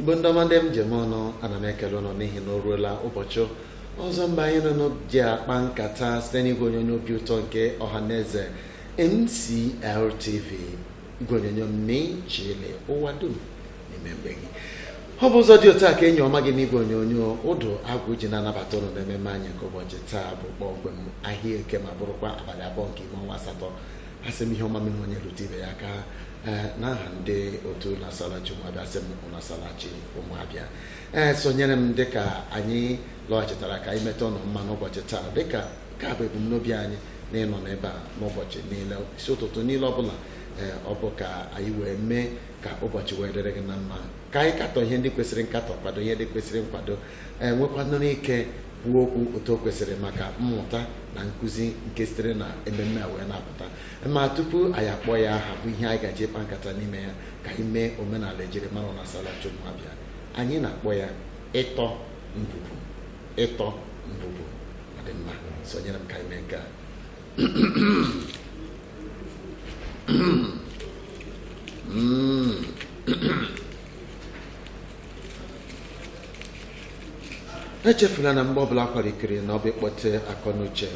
igbo ndị ọma ndị m ji eme ọnụ ana m ekele ụnụ n'ihi na o ruola ụbọchị ọzọ mgbe anyị na ụnụ ji akpa nkata site n'igwe onyonyo obi ụtọ nke ọhaneze MCLTV igwe onyonyo ị na-eji ele ụwa dum n'ime be gị ọ bụ ụzọ dị otu a ka enyi ọma gị n'igwe onyonyo ụdụ agwụ ji na-anabata ụnụ n'ememe anyị nke ụbọchị taa bụ kpọmkwem ahịa eke ma bụrụkwa abalị abụọ nke ime ọnwa asatọ asị m ihe ọma mere onye rute ibe ya aka ee n'aha ndị otu ụnụ asala chi ụmụ abịa asị m ụnụ asala chi ụmụ abịa ee sonyere m dịka anyị lọghachitara ka anyị meta ụnụ mma n'ụbọchị taa dịka nke a bụ ebumnobi anyị na ịnọ n'ebe a n'ụbọchị niile isi ụtụtụ niile ọbụla ee ọ bụ ka anyị wee mee ka ụbọchị wee dịrị gị na mma ka anyị katọ ihe ndị kwesịrị nkatọ kwado ihe ndị kwesịrị nkwado ee nwekwanụrụ ike kwuo okwu otu o kwesịrị maka mmụta na nkụzi nke sitere na ememme a wee na-apụta ma tupu anyị akpọ ya aha bụ ihe anyị ga-eji kpaa nkata n'ime ya ka anyị mee omenala ejirimara ụnụ asala chi ụmụ abịa anyị na-akpọ ya ịtọ ngwugwu ịtọ ngwugwu ọ dị mma sonyere m ka anyị mee nke a Mm. echefula na mgbe ọbụla a kwara ikiri na ọ bụ ịkpọte akọ na uche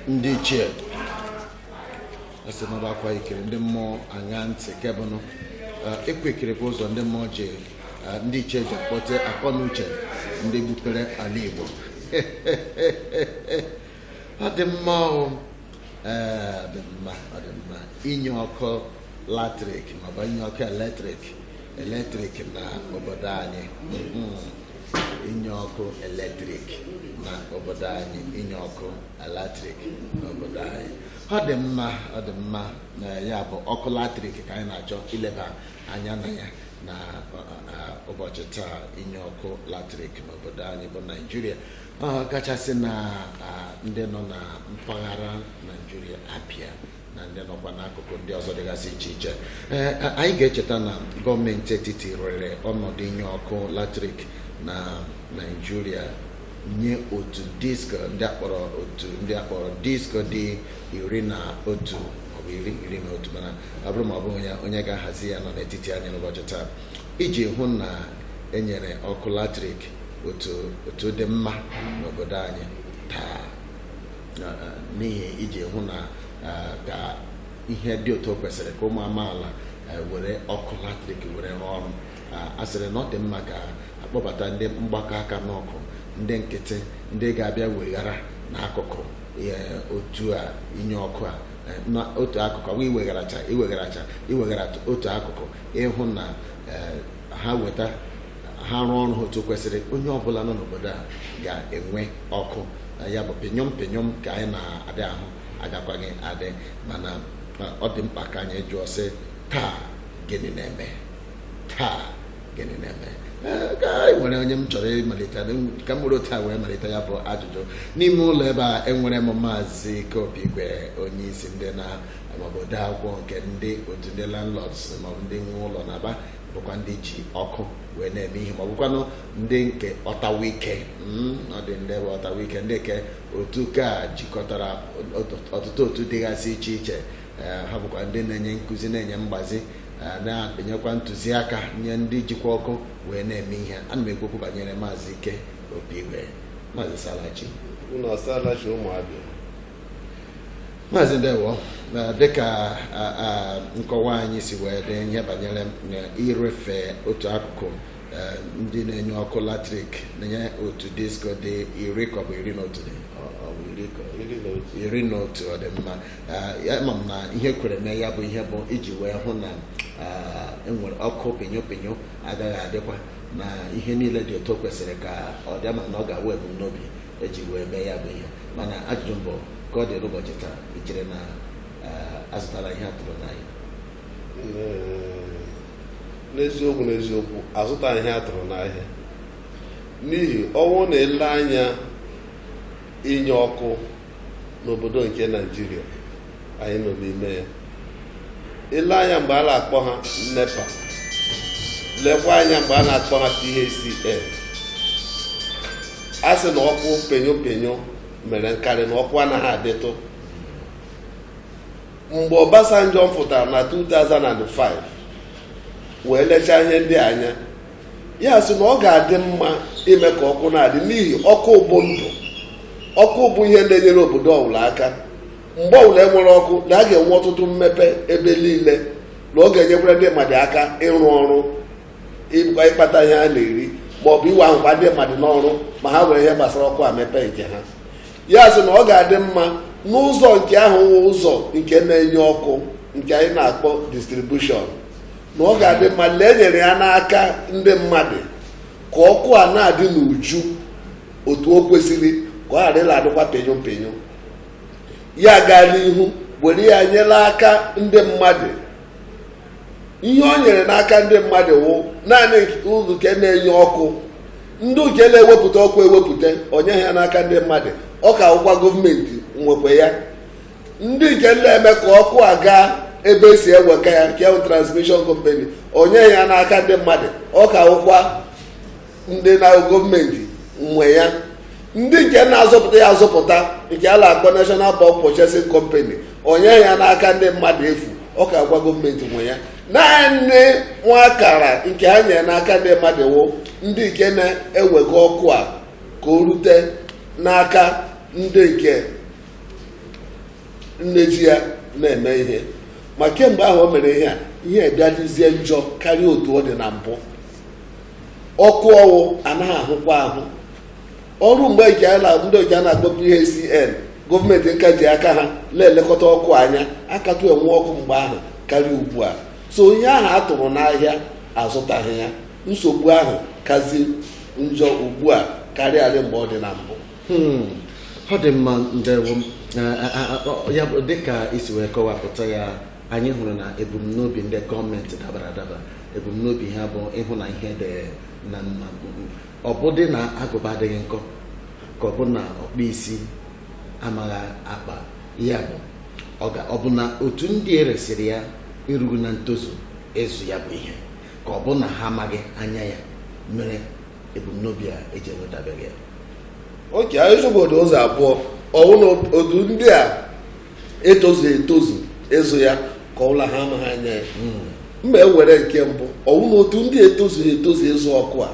ndị ichie asị na ọ bụ a kwaa ikiri ndị mmụọ aṅa ntị kebụnụ ịkwa ikiri bụ ụzọ ndị mmụọ ji ndị ichie ji akpọte akọ na uche ndị gbupere ala Igbo ọ dị mma ọnwụ ee ọ dị mma ọ dị mma inye ọkụ latrik maọbụ inye ọkụ eletrik eletrik na obodo anyị inye ọkụ eletrik na obodo anyị inye ọkụ eletrik na obodo anyị ọ dị mma ọ dị mma na ya bụ ọkụ latrik ka anyị na-achọ ileba anya na ya na ụbọchị taa inye ọkụ latrik n'obodo anyị bụ naijiria kachasị na ndị nọ na mpaghara naijiria abịa na ndị nọkwa n'akụkụ ndị ọzọ dịgasị iche iche anyị ga-echeta na gọọmenti etiti rere ọnọdụ inye ọkụ latrik na naijiria nye otu disko ndị akpọrọ otu ndị akpọrọ disko dị iri na otu maọbụ iri iri na otu mana ọ bụrụ ma ọ bụ onye onye ga-ahazi ya nọ n'etiti anyị n'ụbọchị taa iji hụ na enyere ọkụ latrik otu otu dị mma n'obodo anyị taa n'ihi iji hụ na ka ihe dị otu o kwesịrị ka ụmụ amaala were ọkụ latrik were rụọ ọrụ a sịrị na ọ dị mma ka akpọbata ndị mgbakọ aka n'ọkụ ndị nkịtị ndị ga-abịa weghara n'akụkụ otu a inye ọkụ a n'otu akụkụ ọ bụ iwegharacha iwegharacha iweghara otu akụkụ ịhụ na ha weta ha rụọ ọrụ otu kwesịrị onye ọbụla nọ n'obodo a ga-enwe ọkụ ya bụ pinyom pinyom ka anyị na-adị ahụ agakwaghị adị mana ọ dị mkpa ka anyị jụọ sị taa gịnị na-eme taa gịnị na-eme ka anyị nwere onye m chọrọ ịmalite ka m were taa wee malite ya bụ ajụjụ n'ime ụlọ ebe a enwere m maazị Ikeobi Igwe onye isi ndị na maọbụ ode akwụkwọ nke ndị otu ndị landlords maọbụ ndị nwe ụlọ n'Aba bụkwa ndị ji ọkụ wee na-eme ihe maọbụkwanụ ndị nke ọtawike ọ dị ndị bụ ọtawike ndị nke otu ka jikọtara ọtụtụ otu dịgasị iche iche ha bụkwa ndị na-enye nkụzi na-enye mgbazi na-enyekwa ntụziaka nye ndị jikwa ọkụ wee na-eme ihe ana m ekwu okwu banyere maazị ike obi igwe maazị ị saala chi unu asaala chi ụmụ Abịa maazị ndewo dịka nkọwa anyị si wee dị ihe banyere irefe otu akụkụ ndị na-enye ọkụ latrik na-enye otu disko dị iri ka ọ bụ iri na otu dị iri na otu ọ dị mma ama m na ihe kwere mee ya bụ ihe bụ iji wee hụ na enwere ọkụ pinyo pinyo agaghị adịkwa na ihe niile dị otu kwesịrị ka ọ dị ama m na ọ ga-awụ ebumnobi eji wee mee ya bụ ihe mana ajụjụ mbụ ka ọ dị n'ụbọchị taa i chere na azụtara ihe atụrụ n'ahịa n'eziokwu n'eziokwu azụta ihe atụrụ n'ahịa n'ihi ọ wụrụ na e lee anya inye ọkụ n'obodo nke naijiria anyị nọ n'ime ya i lee anya mgbe a na-akpọ ha nepa lekwa anya mgbe a na-akpọ ha PHCN a sị na ọkụ penyo penyo mere nkarị na ọkụ anaghị adịtụ mgbe Obasanjo fụtara na 2005 wee lechaa ihe ndị a anya ya sị na ọ ga-adị mma ime ka ọkụ na-adị n'ihi ọkụ bụ ndụ ọkụ bụ ihe na-enyere obodo ọbụla aka mgbe ọbụla enwere ọkụ na a ga-enwe ọtụtụ mmepe ebe niile na ọ ga-enyekwara ndị mmadụ aka ịrụ ọrụ ịkpa ịkpata ihe a na-eri ma ọ bụ iwe ahụkwa ndị mmadụ n'ọrụ ma ha were ihe gbasara ọkụ a mepee nke ha ya sị na ọ ga-adị mma n'ụzọ nke ahụ wụ ụzọ nke na-enye ọkụ nke anyị na-akpọ distribution na ọ ga-adị mma la e nyere ya n'aka ndị mmadụ ka ọkụ a na-adị n'uju otu o kwesịrị ka ọ ghara ịla adịkwa pịnyụ pịnyụ ya gaa n'ihu were ya nye n'aka ndị mmadụ ihe o nyere n'aka ndị mmadụ wụ naanị ụzọ nke na-enye ọkụ ndị nke na-ewepụta ọkụ ewepụta o nyeghị ya n'aka ndị mmadụ ọ ka wụkwa gọọmenti nwekwa ya ndị nke na-eme ka ọkụ a gaa ebe e si ewega ya nke transmission company o nyeghị ya n'aka ndị mmadụ ọ ka wụkwa ndị gọọmenti nwe ya ndị nke na-azụpụta ya azụpụta nke a na-akpọ National Bulk Purchasing Company o nyeghị ya n'aka ndị mmadụ efu ọ ka wụkwa gọọmenti nwe ya naanị nwa akara nke ha nyere n'aka ndị mmadụ wụ ndị nke na-ewega ọkụ a ka o rute n'aka ndị nke na-eji ya na-eme ihe ma kemgbe ahụ o mere ihe a ihe bịa dịzie njọ karịa otu ọ dị na mbụ ọkụ ọwụ anaghị ahụkwa ahụ ọ wụrụ mgbe nke a na- ndị oji a na-akpọ PHCN gọọmenti ka ji aka ha na-elekọta ọkụ anya a katụ enwe ọkụ mgbe ahụ karịa ugbu a so ihe ahụ a tụrụ n'ahịa azụtaghị ya nsogbu ahụ kazi njọ ugbu a karịarị mgbe ọ dị na mbụ Hmm, ọ dị mma ndewo Eh, eh, eh, ọ- ya bụ dịka i si wee kọwapụta ya anyị hụrụ na ebumnobi ndị gọọmenti dabara adaba ebumnobi ha bụ ịhụ na ihe dị na mma ọ bụdị na agụba adịghị nkọ ka ọ bụ na ọkpa isi amaghị akpa ya bụ ọ bụ na otu ndị e resịrị ya erughị na ntozu ịzụ ya bụ ihe ka ọ bụ na ha amaghị anya ya mere ebumnobi a eji enwetabeghị ya okay anyị ụzọ abụọ ọ wụ na otu ndị a etozughị etozu ịzụ ya ka ọ bụ na ha amaghị anya ya ma e were nke mbụ ọ wụ na otu ndị etozughị etozu ịzụ ọkụ a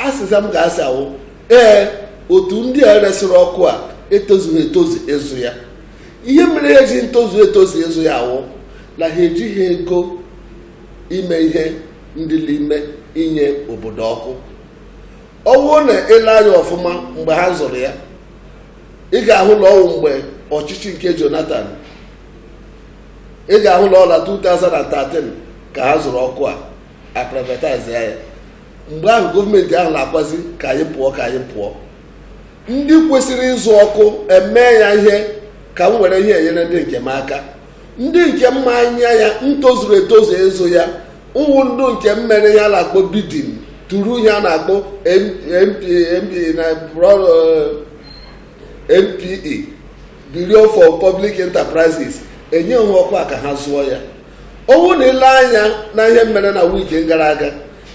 azịza m ga-asị awụ ee otu ndị a resịrị ọkụ a etozughị etozu ịzụ ya ihe mere ha ji ntozu etozu ịzụ ya awụ na ha ejighị ego ime ihe dị n'ime inye obodo ọkụ ọ bụrụ na e lee anya ọfụma mgbe ha zụrụ ya ị ga-ahụ na ọ wụ mgbe ọchịchị nke Jonathan ị ga-ahụ na ọ la 2013 ka ha zụrụ ọkụ a a privatize ya mgbe ahụ gọọmenti ahụ na-akwazi ka anyị pụọ ka anyị pụọ ndị kwesịrị ịzụ ọkụ emee ya ihe ka m were ihe enyere ndị nke m aka ndị nke ma anya ya ntozuru etozu ịzụ ya ọ wụ ndị nke mere ihe a na-akpọ bidding through ihe a na-akpọ BPE Bureau for Public Enterprises enye ha ọkụ a ka ha zụọ ya ọ wụ na i lee anya na ihe mere na wiki gara aga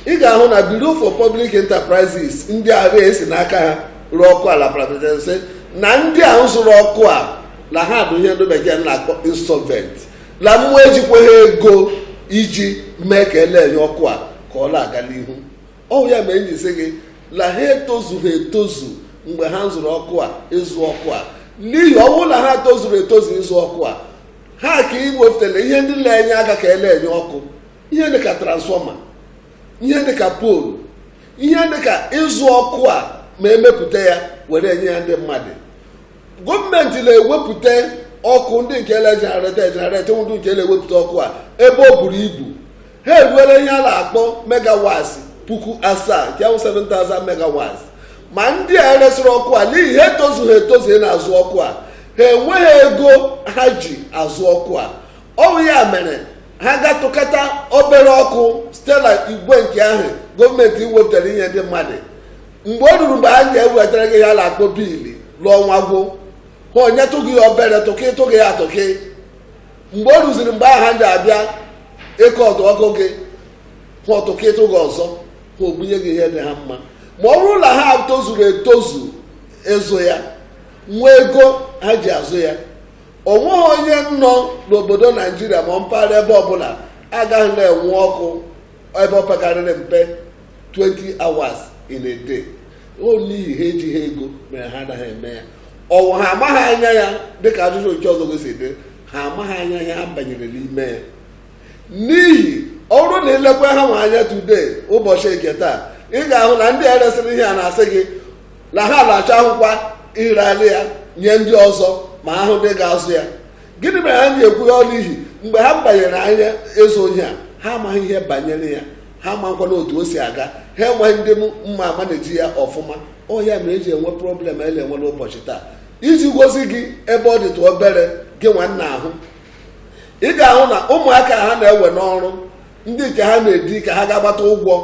ị ga-ahụ na Bureau for Public Enterprises ndị ahụ e si n'aka ha ree ọkụ a la privatization na ndị a zụrụ ọkụ a na ha bụ ihe ndị bekee na-akpọ insolvent na ha ejikwaghị ego iji mee ka ele enye ọkụ a ka ọ na-aga n'ihu ọ wụ ya mere m ji sị gị na ha etozughị etozu mgbe ha zụrụ ọkụ a ịzụ ọkụ a n'ihi ọ wụ na ha tozuru etozu ịzụ ọkụ a ha ka iwepụtara ihe ndị na-enye aka ka ele enye ọkụ ihe dị ka transfọma ihe dị ka poolu ihe dị ka ịzụ ọkụ a ma e mepụta ya were enye ya ndị mmadụ gọọmenti na-ewepụta ọkụ ndị nke ele generate generate ndị nke na-ewepụta ọkụ a ebe ọ buru ibu ha eruola ihe a na-akpọ megawats puku asaa nke wụ 7000 megawats ma ndị a e resịrị ọkụ a n'ihi ha etozughị etozu na-azụ ọkụ a ha enweghị ego ha ji azụ ọkụ a ọ wụ ya mere ha ga-atụkata obere ọkụ site na igwe nke ahụ gọọmenti wepụtara inye ndị mmadụ mgbe o ruru mgbe ha ga-ewetara gị ihe a na-akpọ biili la ọnwa agwụ ha enyetụ gị obere tụkị tụ gị ya tụkị mgbe o ruziri mgbe ha ga-abịa ịkọtụ ọkụ gị ha atụkịtụ gị ọzọ ha ebunye gị ihe dị ha mma ma ọ bụrụ na ha tozuru etozu ịzụ ya nwee ego ha ji azụ ya o nweghị onye nọ n'obodo naijiria ma mpaghara ebe ọbụla agaghị na-enwe ọkụ ebe o pekarịrị mpe 20 hours in a day ọ n'ihi ha ejiha ego mere ha anaghị eme ya ọ wụ ha amaghị anya ya dịka ajụjụ nke ọzọ gosi dị ha amaghị anya ya banyere n'ime ya n'ihi ọ wụrụ na e lekwa ha nwa anya today ụbọchị nke taa ị ga-ahụ na ndị e resịrị ihe a na-asị gị na ha na-achọ ahụkwa ireli ya nye ndị ọzọ ma a hụ ndị ga-azụ ya gịnị mere ha ji ekwu ya n'ihi mgbe ha banyere anya ịzụ ihe a ha amaghị ihe banyere ya ha makwana otu o si aga ha enweghị ndị ma manage ya ọfụma ọ ya mere eji enwe problem a na-enwe n'ụbọchị taa iji gosi gị ebe ọ dịtụ obere gị nwanna ahụ ị ga-ahụ na ụmụaka ha na-ewe n'ọrụ ndị nke ha na-edi ka ha gaa gbata ụgwọ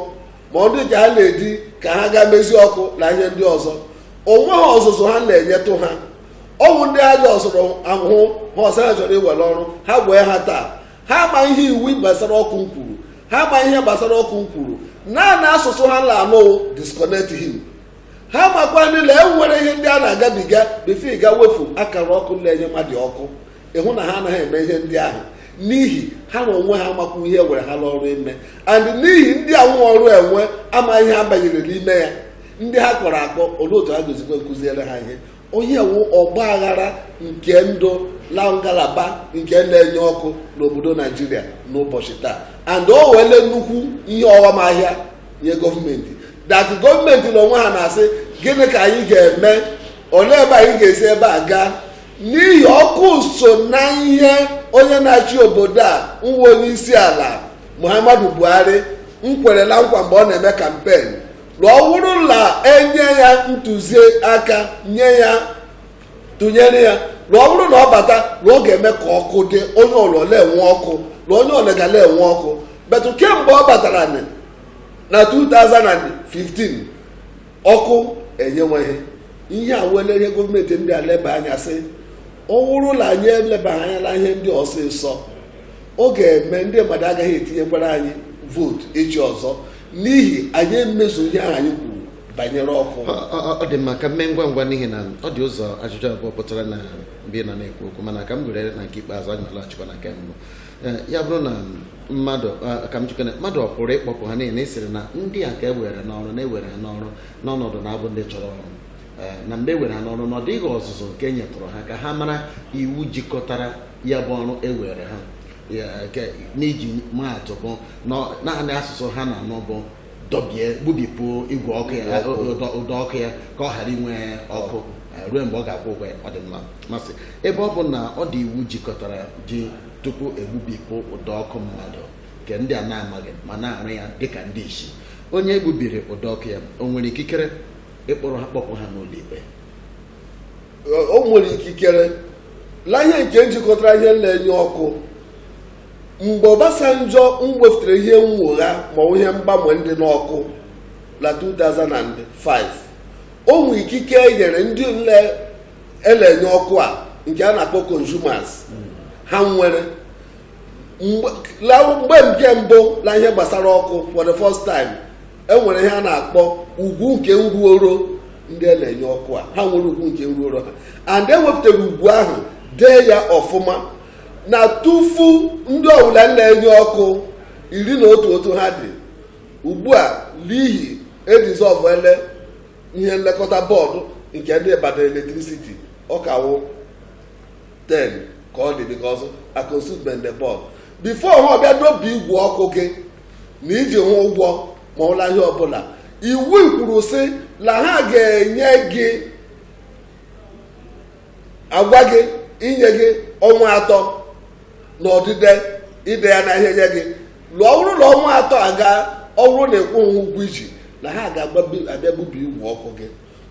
ma ndị nke ha na-edi ka ha gaa mezi ọkụ na ihe ndị ọzọ o nweghị ọzụzụ ha na-enyetụ ha ọ wụ ndị aja ọsọrọ ahụhụ ha ọsọ ha chọrọ iwe n'ọrụ ha ga-ewe ha taa ha ma ihe iwu gbasara ọkụ nkwuru ha ma ihe gbasara ọkụ nkwuru naanị asụsụ ha na-anụ disconnect him ha makwana na e nwere ihe ndị a na-agabiga before a ga-ewefu akara ọkụ na-enye mmadụ ọkụ ị hụ na ha anaghị eme ihe ndị ahụ n'ihi ha na onwe ha amakwu ihe e were ha n'ọrụ ime and n'ihi ndị nwe ọrụ enwe amaghị ihe ha banyere n'ime ya ndị ha kpọrọ akpọ olee otu ha ga-esikwa nkụziere ha ihe onye wu ọgbaaghara nke ndụ na ngalaba nke na-enye ọkụ n'obodo naijiria n'ụbọchị taa and o wele nnukwu ihe ọghọm ahịa nye gọọmenti that gọọmenti na onwe ha na-asị gịnị ka anyị ga-eme olee ebe anyị ga-esi ebe a gaa n'ihi ọkụ so na ihe onye na-achị obodo a wụ onye isi ala muhammadu buhari nkwere na nkwa mgbe ọ na-eme campaign na ọ bụrụ na enye ya ntụziaka nye ya tụnyere ya na ọ bụrụ na ọ bata na ọ ga-eme ka ọkụ dị onye ọlọ na-enwe ọkụ na onye ọlọ ga na-enwe ọkụ but kemgbe ọ batara na na 2015 ọkụ enyeweghị ihe a wele ihe gọọmenti ndị a leba anya sị ọ bụrụ na anyị elebaghị anya na ihe ndị ọsịsọ ọ ga-eme ndị mmadụ agaghị etinyekwara anyị vote echi ọzọ n'ihi anyị emezughị ihe ahụ anyị kwuru banyere ọkụ ọ dị mma ka m mee ngwa ngwa n'ihi na ọ dị ụzọ ajụjụ abụọ pụtara na mgbe ị nọ na-ekwu okwu mana ka m were na nke ikpeazụ anyị na-alaghachikwa na nke mbụ eh, ya bụrụ na mmadụ eh, ka m jikọna mmadụ ọ pụrụ ịkpọpụ ha niile ị sịrị na ndị a ka e were n'ọrụ na e were ha n'ọrụ n'ọnọdụ na-abụ ndị chọrọ ọrụ eh, na mgbe e were ha n'ọrụ na ọ dịghị ọzụzụ nke e nyetụrụ ha ka ha mara iwu jikọtara ya bụ ọrụ e were ha n'iji maa atụ bụ naanị asụsụ ha na-anụ bụ dọbie gbubipụ igwe ọkụ ya ụdọ ọkụ ya ka ọ ghara inwe ọkụ ruo mgbe ọ ga-akwụ ụgwọ ya ọ dị mma m sị ebe ọ bụ na ọ dị iwu jikọtara ji tupu egbubipụ ụdọ ọkụ mmadụ nke ndị a na-amaghị ma na-arụ ya dịka ndị isi onye egbubiri ụdọ ọkụ ya o nwere ikikere ịkpọrọ ha kpọpụ ha n'ụlọ ikpe o nwere ikikere la ihe nke njikọtara ihe na-enye ọkụ mgbe Obasanjo mwefụtara ihe mnwogha ma ọ bụ ihe mgbanwe ndị n'ọkụ na 2005 o nwere ikike e nyere ndị nle e le-enye ọkụ a nke a na-akpọ consumers ha nwere mgbe la- mgbe nke mbụ na ihe gbasara ọkụ for the first time e nwere ihe a na-akpọ ugwu nke nruoro ndị a na-enye ọkụ a ha nwere ugwu nke nruoro ha and e wepụtara ugwu ahụ dee ya ọfụma na tufu ndị ọbụla na-enye ọkụ iri na otu otu ha dị ugbu a n'ihi e dizọvụle ihe nlekọta bọọdụ nke ndị Ibadan electricity ọ ka wụ 10 ka ọ dị because I consume the bọọdụ before ha ọbịa dọbi igwe ọkụ gị na i ji ha ụgwọ ma ọ wụ la ihe ọbụla iwu kwuru sị na ha ga-enye gị agwa gị inye gị ọnwa atọ na odide ide ya na ihe nye gị la ọ bụrụ na ọnwa atọ agaa ọ bụrụ na ị kwụghị ụgwọ i ji na ha ga-abịa gbubi igwe ọkụ gị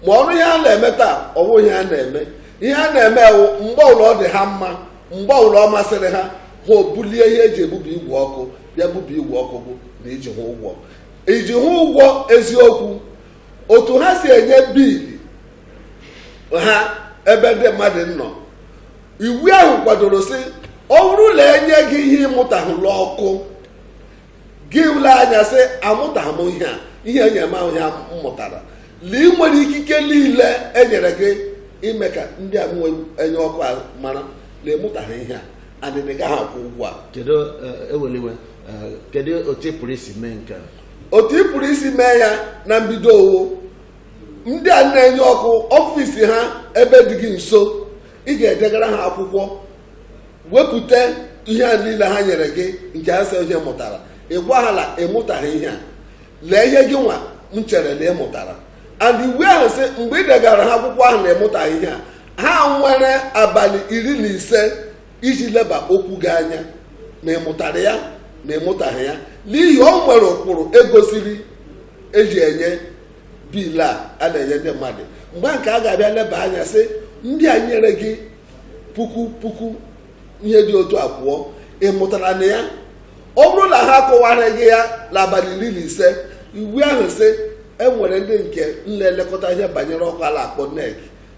ma ọrụ ihe ha na-eme taa ọ wụ ihe a na-eme ihe ha na-eme wụ mgbe ọbụla ọ dị ha mma mgbe ọbụla ọ masịrị ha ha obulie ihe e ji ebubi igwe ọkụ bịa bubi igwe ọkụ gị na i ji ha ụgwọ i ji ha ụgwọ eziokwu otu ha si enye biili ha ebe ndị mmadụ nọ iwu ahụ kwadoro sị ọ bụrụ na e nye gị ihe ị mụtahụ la ọkụ gị elee anya sị amụtaghị m ihe a ihe e nye m awụhụ ihe m mụtara la i nwere ikike niile e nyere gị ime ka ndị a na-enye ọkụ a mara na ị mụtaghị ihe a and ị gaghị akwụ ụgwọ a kedu eh, eweliwe eh, kedu otu ị pụrụ isi mee nke a otu ị pụrụ isi mee ya na mbido ọ wụ ndị a na-enye ọkụ ọfịs ha ebe dị gị nso ị ga-edegara ha akwụkwọ wepụta ihe a niile ha nyere gị nke ha sị ihe ị mụtara ị gwa ha la ị mụtaghị ihe a lee ihe gị nwa nchere na ị mụtara and iwu ahụ sị mgbe ị degara ha akwụkwọ ahụ na ị mụtaghị ihe a ha nwere abalị iri na ise iji leba okwu gị anya ma ị mụtara ya ma ị mụtaghị ya n'ihi o nwere ụkpụrụ e gosiri e ji enye biil a a na-enye ndị mmadụ mgbe nke a ga-abịa leba anya sị ndị a nyere gị puku puku ihe dị otu a pụọ ị mụtara na ya ọ bụrụ na ha akọwaraghị ya n'abalị iri na ise iwu ahụ sị e nwere ndị nke na-elekọta ihe banyere ọkụ a la-akpọ NERC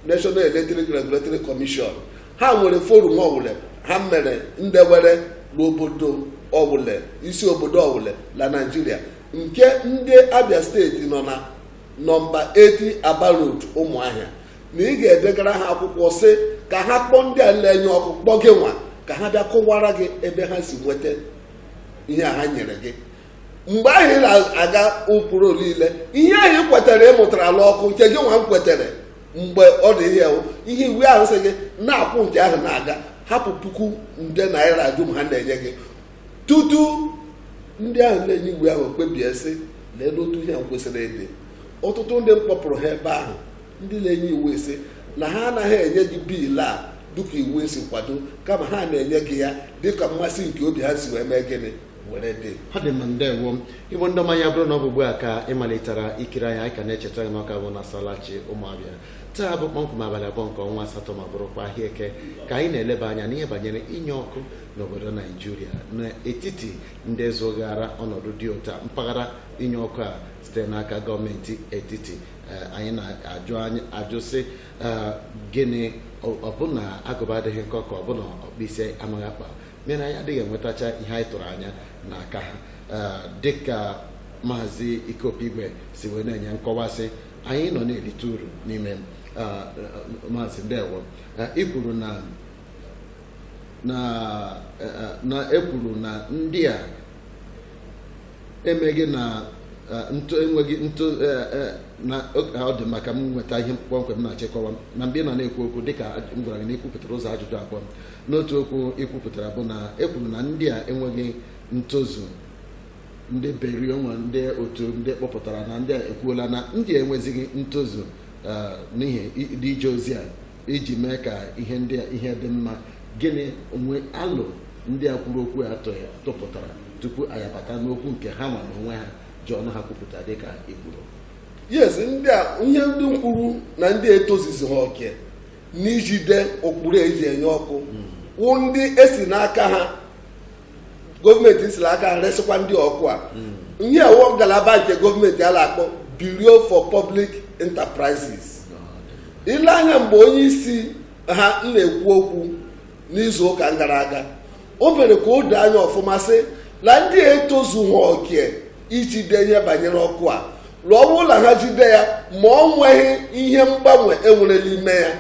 National Electric Regulatory Commission ha nwere forum ọwụle ha mere ndewere n'obodo ọwụle isi obodo ọwụle na Naịjirịa nke ndị Abia steeti nọ na nọmba 80 Aba Road Ụmụahịa na ị ga-edegara ha akwụkwọ sị ka ha kpọọ ndị a na-enye ọkụ kpọ gị nwa ka ha bịa kọwaara gị ebe ha si nweta ihe a ha nyere gị mgbe ahụ ị na-aga ụkpụrụ niile ihe ahụ ị kwetara ị mụtara la ọkụ nke gị nwa nkwetara mgbe ọ dị ihe ihe iwu ahụ sị gị na-akwụ nke ahụ na-aga hapụ puku nde naira dum ha na-enye gị tutu ndị ahụ na-enye iwu ahụ ekpebie sị leenụ otu ihe kwesịrị ịdị ọtụtụ ndị mkpọpụrụ ha ebe ahụ ndị na-enye iwu asị na ha anaghị enye gị biil a dịka iwu si kwado kama ha na-enye gị ya dịka mmasị nke obi ha si wee mee gịnị were dị ọ dị mma ndewo igbo ndị ọma ya bụrụ na ọ bụ ugbu a ka ị malitara ikiri anyị anyị ka na-echeta gị n'ọ ka bụ na salachi ụmụabịa taa bụ kpọmkwem abalị abụọ nke ọnwa asatọ ma bụrụkwa ahịa eke ka anyị na-eleba anya n'ihe banyere inye ọkụ n'obodo naijiria n'etiti ndị zụghara ọnọdụ dị ụta mpaghara inye ọkụ a site n'aka gọọmenti etiti eh, anyị na-ajụ anyị ajụ sị eh, gịnị ọ bụ na agụba adịghị nkọ ka ọ bụ na ọkpa isi amaghị akpa mere anyị adịghị enwetacha ihe anyị tụrụ anya n'aka ha eh, dịka maazị Ike Opi Igwe si wee na-enye nkọwasị anyị nọ na-erite uru n'ime maazị ndewo ị kwuru na na e kwuru na ndị a emeghị na eh, ntụ enweghị ntụ eh, eh, na o- ọ dị mma ka m nweta ihe kpọmkwem m na-achọ ịkọwa. na mgbe ị nọ na-ekwu okwu dịka m gwara gị na i kwupụtara ụzọ ajụjụ abụọ n'otu okwu i kwupụtara bụ na e kwuru na ndị a enweghị ntozu ndị beri o nwe ndị otu ndị kpọpụtara na ndị a ekwuola na ndị a enwezighị ntozu eh, n'ihi i- dị ije ozi a iji mee ka ihe ndị a ihe dị mma gịnị o nwe alo ndị a kwuru okwu a tụ- tụpụtara tupu anyị abata n'okwu nke ha nwa n'onwe ha ji ọnụ ha kwupụta dị ka i kwuru yes ndị a ihe ndị nkwuru na ndị etozuzigha oke n'ijide ụkpụrụ e ji enye ọkụ wụ ndị e si n'aka ha gọọmenti si la aka resịkwa ndị ọkụ a ihe a wụ ngalaba nke gọọmenti a na-akpọ Bureau for Public Enterprises i lee anya mgbe onye isi ha na-ekwu okwu n'izu ụka gara aga o mere ka o doo anya ọfụma sị na ndị a etozughị oke ijide ihe banyere ọkụ a la ọ bụrụ la ha jide ya ma ọ nweghị ihe mgbanwe e nwere n'ime ya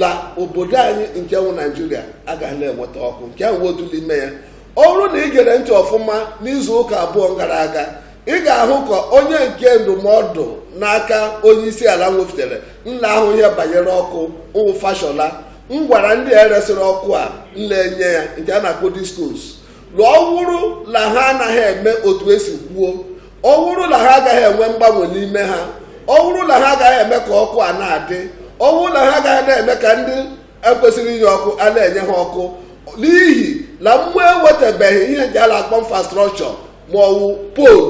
la obodo anyị nke nwụ naijiria agaghị na-enweta ọkụ nke ahụ wụ otu n'ime ya ọ bụrụ na ị gere ntị ọfụma n'izu ụka abụọ gara aga ị ga-ahụ ka onye nke ndụmọdụ n'aka onye isi ala nwefutere na-ahụ ihe banyere ọkụ nwụ fashola ngwara ndị a e resịrị ọkụ a na-enye ya nke a na-akpọ discos la ọ wụrụ na ha anaghị eme otu e si kwuo ọ bụrụ na ha agaghị enwe mgbanwe n'ime ha ọ bụrụ na ha agaghị eme ka ọkụ a na-adị ọ bụrụ na ha agaghị na-eme ka ndị ekwesịrị inye ọkụ a na-enye ha ọkụ n'ihi na mmụ ewetabeghị ihe ji a la-akpọ infrastructure ma ọ wụ pole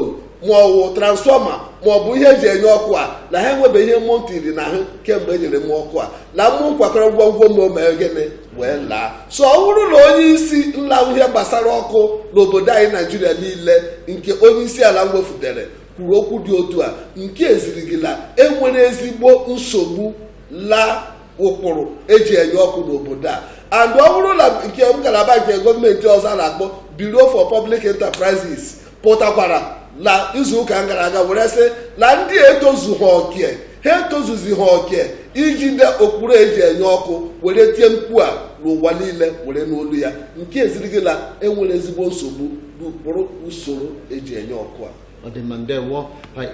ma ọ wụ transformer ma ọ bụ ihe eji enye ọkụ a na ha enwebeghị ihe mmụ ntiri na ahụ kemgbe e nyere mmụ ọkụ a na mmụ kwakọra ngwongwo ma o mee gịnị wee laa so ọ bụrụ na onye isi la-ahụ ihe gbasara ọkụ n'obodo anyị naijiria niile nke onye isi ala wefutere kwuru okwu dị otu a nke eziri gị la enwere ezigbo nsogbu la ụkpụrụ eji enye ọkụ n'obodo a and ọ bụrụ na nke ngalaba nke gọọmenti ọzọ a la-akpọ Bureau for Public Enterprises pụtakwara na izu ụka gara aga were sị na ndị etozughị oke ha etozuzighị oke ijide ụkpụrụ eji enye ọkụ were tie mkpu a n'ụwa niile were nụ olu ya nke eziri gị na enwere ezigbo nsogbu n'ụkpụrụ usoro eji enye ọkụ a ọ dị mma ndewo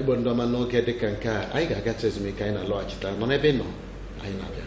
igbo ndị ọma n'oge dịka nke a anyị ga-agacha ezumike anyị na-alọghachita nọ n'ebe ị nọ anyị na-abịa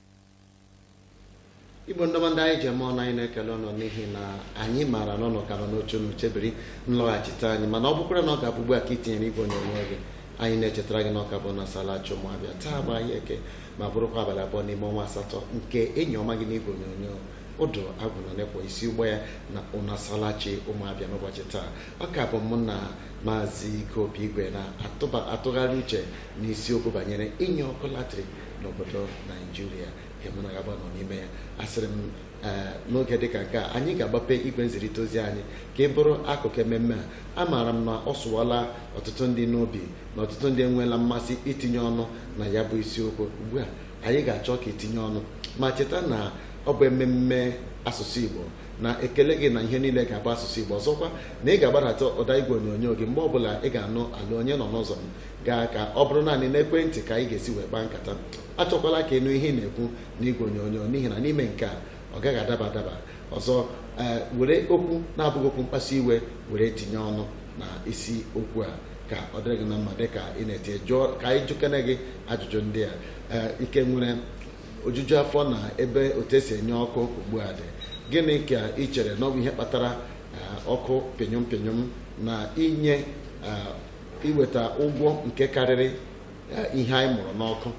igbo ndị ọma ndị anyị ji eme ọnụ anyị na-ekele unu n'ihi na anyị maara na unu ka nọ n'oche unu chebiri nlọghachite anyị mana ọ bụkwarụ na ọ ga-abụ ugbu a ka i tinyere igwe onyonyo gị anyị na-echetara gị na ọ ka bụ nsalachi ụmụ abịa taa bụ ahịa eke ma bụrụkwa abalị abụọ n'ime ọnwa asatọ nke enyi ọma gị n'igwe onyonyo ụdụ agwụ nọkwa n'isi ụgbọ a na nsalachi ụmụ abịa n'ụbọchị taa ọ ka bụ mụ na maazị ike obi igwe na-atụgharị uche n'isiokwu banyere inye ọkụ latrik n'obodo naijiria nke mụ na gị abụa nọ n'ime ya asịrị m ee n'oge dịka nke a anyị ga-agbape igwe nzirịta ozi anyị ka ị bụrụ akụkụ ememme a amaara m na ọ sụwala ọtụtụ ndị n'obi na ọtụtụ ndị enweela mmasị itinye ọnụ na ya bụ isiokwu ugbu a anyị ga-achọ ka itinye ọnụ ma cheta na ọ bụ ememme asụsụ igbo na-ekele gị na ihe niile ga-abụ asụsụ igbo ọzọkwa na ị ga-agbadata ụda igwe onyonyo gị mgbe ọbụla ị ga-anụ olee onye nọ n'ụzọ m gaa ka ọ bụrụ naanị n'ekwentị ka anyị ga-esi wee kpaa nkata achọkwala ka ị nụ ihe ị na-ekwu n'igwe onyonyo n'ihi na n'ime nke a ọ gaghị adaba adaba ọzọ ee were okwu na-abụghị okwu mkpasu iwe were tinye ọnụ na isi okwu a ka ọ dịrị gị na mma dị ka ị na-etinye jụọ ka anyị jụkene gị ajụjụ ndị a ee ị ka nwere ojuju afọ na ebe otu esi enye ọkụ ugbu a dị gịnị ka ị chere na ọ bụ ihe kpatara ee, ọkụ pịnyụm pịnyụm na inye ee, iweta ụgwọ nke karịrị eh, ihe anyị mụrụ n'ọkụ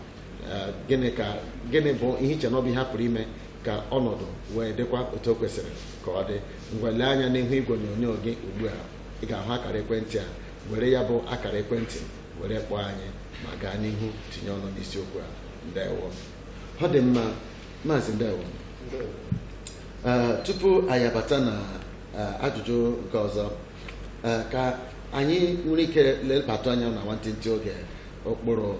eh, gịnị ka gịnị bụ ihe i che na ọ bụ ihe a pụrụ ime ka ọnọdụ wee dịkwa otu o kwesịrị ka ọ dị ngwa lee anya n'ihu igwe onyonyo gị ugbu a ị ga-ahụ akara ekwentị a were ya bụ akara ekwentị were kpọọ anyị ma gaa n'ihu tinye ọnụ n'isiokwu a ndewo ọ dị mma maazị ndewo Eh, tupu anyị abata na eh, ajụjụ nke ọzọ Eh, ka anyị nwere ike lebatụ anya na nwantịntị oge ụkpụrụ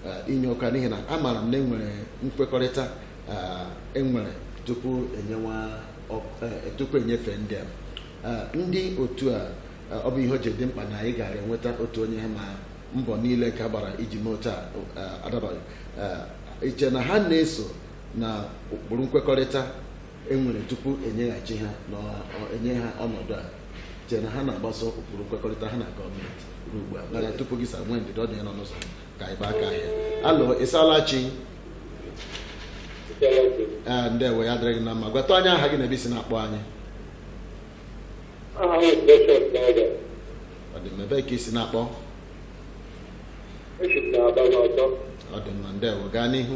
eh, inye ọkụ a n'ihi na amaara m na e nwere nkwekọrịta eh, e nwere tupu enyewa ọ- eh, tupu enyefee ndị a Eh, ndị otu a eh, ọ bụ ihe o ji dị mkpa na anyị gaara enweta otu onye ha ma mbọ niile ka gbara iji mee otu a eh, adabaghị Eh, i che na ha na-eso na ụkpụrụ nkwekọrịta e nwere tupu enyeghachi ha na enye ha ọnọdụ a i che na ha na-agbaso ụkpụrụ nkwekọrịta ha na gọọmenti ruo ugbu a mana tupu gị asaa nwee ndidi ọ dị onye nọ n'ụzọ ka anyị gbaa aka ahịa hello ị saala chi ee ndewo ya dịrị gị na mma gwatụ anyị aha gị na ebe i si na-akpọ anyị Aha m bụ Bishop Dawda. ọ dị mma ebee ka i si na-akpọ Esi m n'Aba n'Ọtọ. ọ dị mma ndewo gaa n'ihu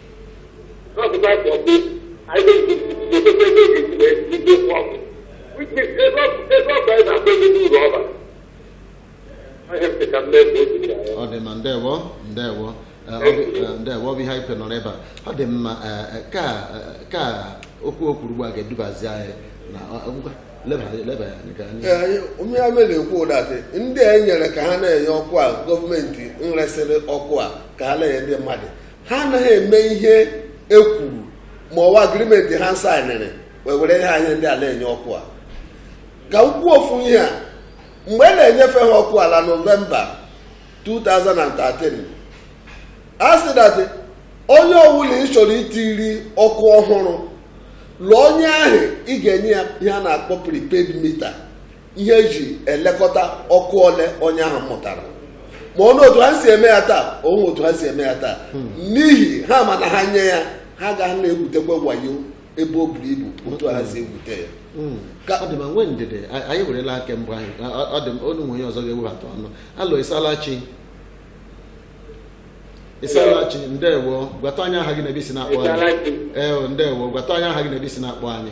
ọ dị mma ndewo ndewo Eh, ọ bụ- eh, ndewo ọ bụ ihe anyị kwe nọrọ ebe a ọ dị mma eh, eh, ka eh, ka okwu o kwuru ugbu a ga-edubazi anyị na ọ- ọ bụkwa- leba leba ya anya ka anyị Ee, onye ya mere ekwu that ndị a nyere ka ha na-enye ọkụ a gọọmenti nresịrị ọkụ a ka ha na-enye ndị mmadụ ha anaghị eme ihe e kwuru ma ọ wụ agreement ha sainịrị wee were ihe anyị ndị a la-enye ọkụ a ka m kwuo ofu ihe a mgbe a na-enyefe ha ọkụ a la November 2013 a sị that onye ọbụla ị chọrọ itiri ọkụ ọhụrụ l'ụlọ onye ahụ ị ga-enye ya ihe a na-akpọ prepaid meter ihe e ji elekọta ọkụ ole onye ahụ mụtara ma o nwe otu ha si eme ya taa o nwe otu ha si eme ya taa hmm. n'ihi ha ma na ha nye ya ha ga na-egwutekwa wayo ebe o buru ibu otu ha si egwute ya hmm. ọ dị mma nwee ndidi anyị werela aka mbụ anyị ọ dị olu nwe onye ọzọ ga-ewebata ọnụ hello ị saala chi ị saala chi ndewo gwatụ anyị aha gị na ebe i si na-akpọ anyị ee ndewo gwatụ anyị aha gị na ebe i si na-akpọ anyị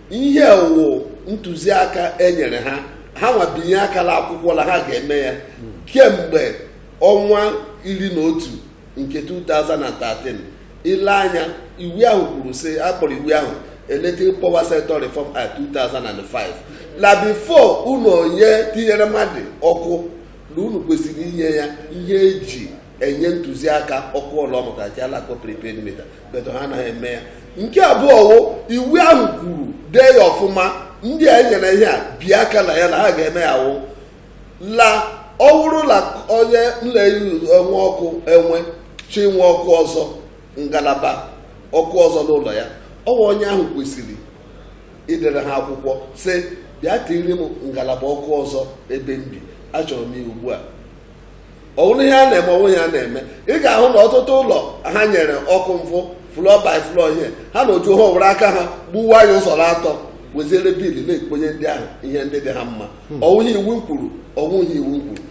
ihe wụ ntụziaka enyere ha ha nwa binye aka l'akwụkwọ na ha ga-eme ya kemgbe ọnwa iri na otu nke 2013 i lee anya iwu ahụ kwuru sị akpọrọ iwu ahụ electric power sector reform act 2005 na before unu onye tinyere mmadụ ọkụ na unu kwesịrị inye ya ihe eji enye ntụziaka ọkụ ọ la-amụta nke a la-akpọ prepaid meter but ha anaghị eme ya nke abụọ wụ iwu ahụ kwuru dee ya ọfụma ndị a enyere ihe a bie aka na ya na ha ga-eme ya wụ la ọ wụrụ na onye le-enwe ọkụ enwe chọọ inwe ọkụ ọzọ ngalaba ọkụ ọzọ n'ụlọ ya ọwụ onye ahụ kwesịrị idere ha akwụkwọ sị bịa tiri m ngalaba ọkụ ọzọ ebe m bi achọrọ m ya ugbu a ọwụrụ ihe a na-eme ọwụrụ ihe a na-eme ị ga-ahụ na ọtụtụ ụlọ ha nyere ọkụ wụ floor by floor ihe ha na oju ha were aka ha gbuwa ya ụzọ atọ werezie bill na-ekponye ndị ahụ ihe ndị dị ha mma hmm. ọwụghị ihe iwu kwuru ọwụghị ihe iwu kwuru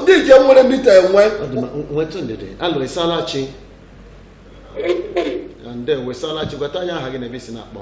ndị nke nwere meter enwe nwetụ ndidi hello isalachi ndewo isalachi gwatụ anyị aha gị na ebe i si na-akpọ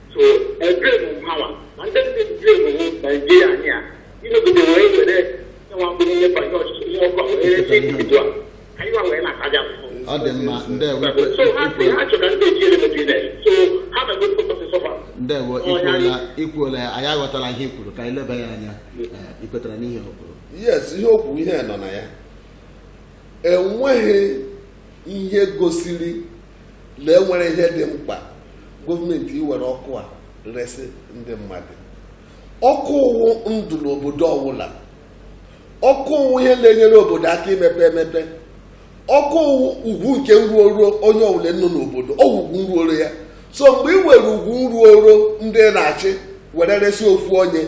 ọ dị mma ndewo ndewo ikwuola ikwuola ya anyị aghọtala ihe i kwuru ka anyị leba ya anya Eh, i kwetara n'ihe o kwuru yes ihe o kwuru ihe nọ na ya enweghị ihe gosiri na enwere ihe dị mkpa gọọmenti iwere ọkụ a resị ndị mmadụ ọkụ wụ ndụ n'obodo ọwụla ọkụ wụ ihe na-enyere obodo aka imepe emepe ọkụ wụ ugwu nke nruoro onye ọwụla nọ n'obodo ọ wụ ugwu nruoro ya so mgbe ị were ugwu nruoro ndị na-achị were resị ofu onye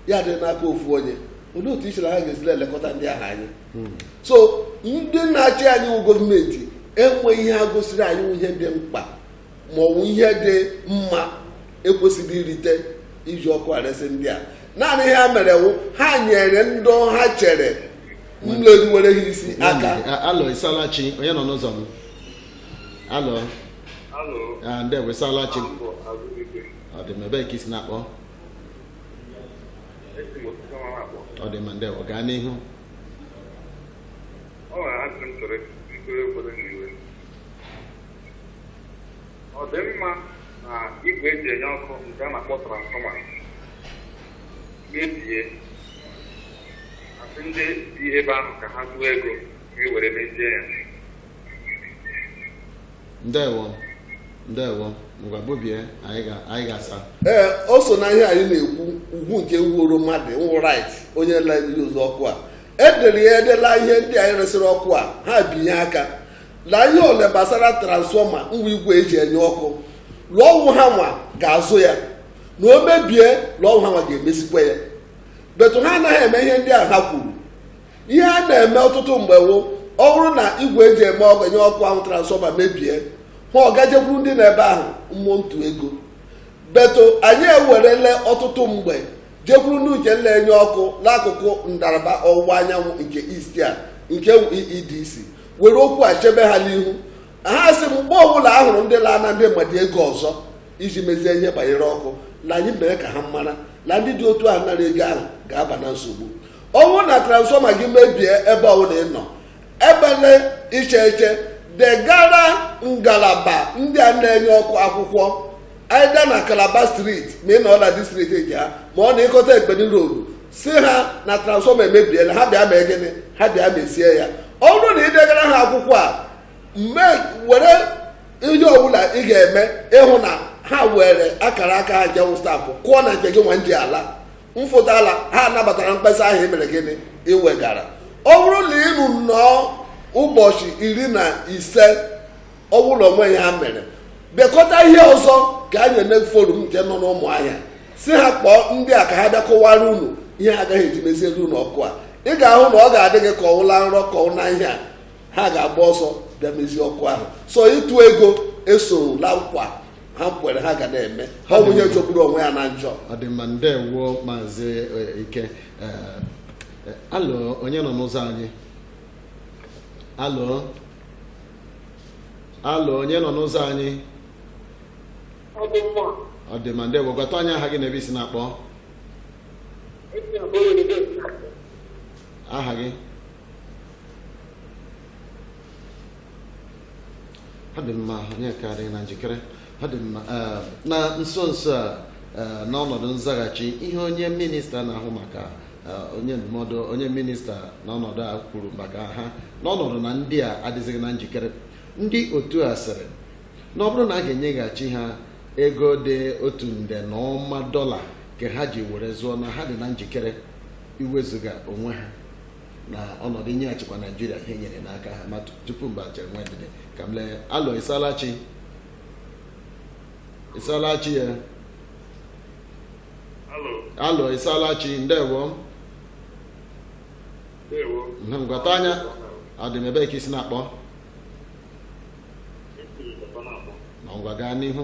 ya dị n'aka ofu onye olee otu i chere ha ga-esi la-elekọta ndị ahụ anya hmm. so ndị na-achị anyị wụ gọọmenti enweghị ihe ha gosiri anyị wụ ihe dị mkpa ma ọ bụ ihe dị mma e kwesịrị irite iji ọkụ a resị ndị a naanị ihe ha mere wụ ha nyere ndị ha chere le-eruwere ha isi aka hello isalachi onye nọ n'ụzọ m hello ah, ndewo isalachi ọ dị mma ebee ka i si na-akpọ ọ dị mma ndewo gaa n'ihu ọ nwere ajụjụ m chọrọ ikpere obodo n'iwe ọ dị mma na igwe eji enye ọkụ nke a na-akpọ transformer mebie asị ndị bi ebe ahụ ka ha tụọ ego ka e were mezie ya ndewo ndewo ngwa bubie anyị ga- anyị ga-asa ee o so na ihe anyị na-ekwu ugwu nke ruoro mmadụ wụ right onye na-ebighị ụzọ ọkụ a e dere ya ede la ihe ndị anyị resịrị ọkụ a ha binye aka na ihe ole gbasara transfọma ngwa igwe eji enye ọkụ la ọ wụ ha nwa ga-azụ ya na o mebie la ọ wụ ha nwa ga-emezikwa ya but ha anaghị eme ihe ndị a ha kwuru ihe a na-eme ọtụtụ mgbe wụ ọ bụrụ na igwe eji eme ọ- enye ọkụ ahụ transfọma mebie ma ọ ga-ejekwuru ndị nọ ebe ahụ maa ụtụ ego but anyị ewerele ọtụtụ mgbe jekwuru ndị nke na-enye ọkụ n'akụkụ ndaraba ọwụwa anyanwụ nke East a nke wụ EEDC were okwu a chebe ha n'ihu ha sị mgbe ọbụla a hụrụ ndị na-ana ndị mmadụ ego ọzọ iji mezie ihe banyere ọkụ na anyị mee ka ha mara na ndị dị otu ahụ nara ego ahụ ga-aba na nsogbu ọ wụ na transfọma gị mebie ebe ọbụla ị nọ ebele iche iche degara ngalaba ndị a na-enye ọkụ akwụkwọ either na Calabar Street ma ị nọ na district nke ha ma ọ na Ikot Ekpene Road sị ha na transfọma emebiela ha bịa mee gịnị ha bịa mezie ya ọ bụrụ na ị degara ha akwụkwọ a mee were ihe ọbụla ị ga-eme ịhụ na ha were akara aka ha nke wụ stamp kụọ na nke gị nwa ji ala mfụta la ha nabatara mkpesa ahụ i mere gịnị i wegara ọ bụrụ na unu nọọ ụbọchị iri na ise ọ bụrụ na o nwehị ihe ha mere dekọta ihe ọzọ gaa nye NERC forum nke nọ n'ụmụahịa sị ha kpọọ ndị a ka ha bịa kọwara unu ihe ha agaghị eji meziere unu ọkụ a ị ga-ahụ na ọ ga-adị gị ka ọ wụ la nrọ ka ọ wụ la ihe a ha ga-agba ọsọ bịa mezie ọkụ ahụ so ịtụ ego esoro la nkwa ha kwere ha ga na-eme ọ bụ onye jọgburu onwe ya na njọ ọ dị mma ndewo maazị eh, ike Eh, eh, alo onye nọ n'ụzọ anyị alo alo onye nọ n'ụzọ anyị ọ dị mma ọ dị mma ndewo gwatụ anyị aha gị na ebe i si na-akpọ esi na bụrụ ndị aha gị ọ dị mma onye ka adịghị na njikere ọ dị mma eh, na nso nso a eh, n'ọnọdụ nzaghachi ihe onye minista na-ahụ maka eh, onye ndụmọdụ onye minista n'ọnọdụ a kwuru maka ha n'ọnọdụ na ndị a adịzighị na njikere ndị otu a sịrị na ọ bụrụ na a ga-enyeghachi ha ego dị otu nde na ụma dọla nke ha ji were zụọ na ha dị na njikere iwezuga onwe ha na ọnọdụ inye achịkwa naijiria ihe nyere n'aka ha ma tupu mgbe ahụ chere nwee ndidi ka m lee alọ ịsalachi ịsalachi ya alọ ịsalachi ndewo ngwata anya adịm ebee ka i si na-akpọ na ngwa gaa n'ihu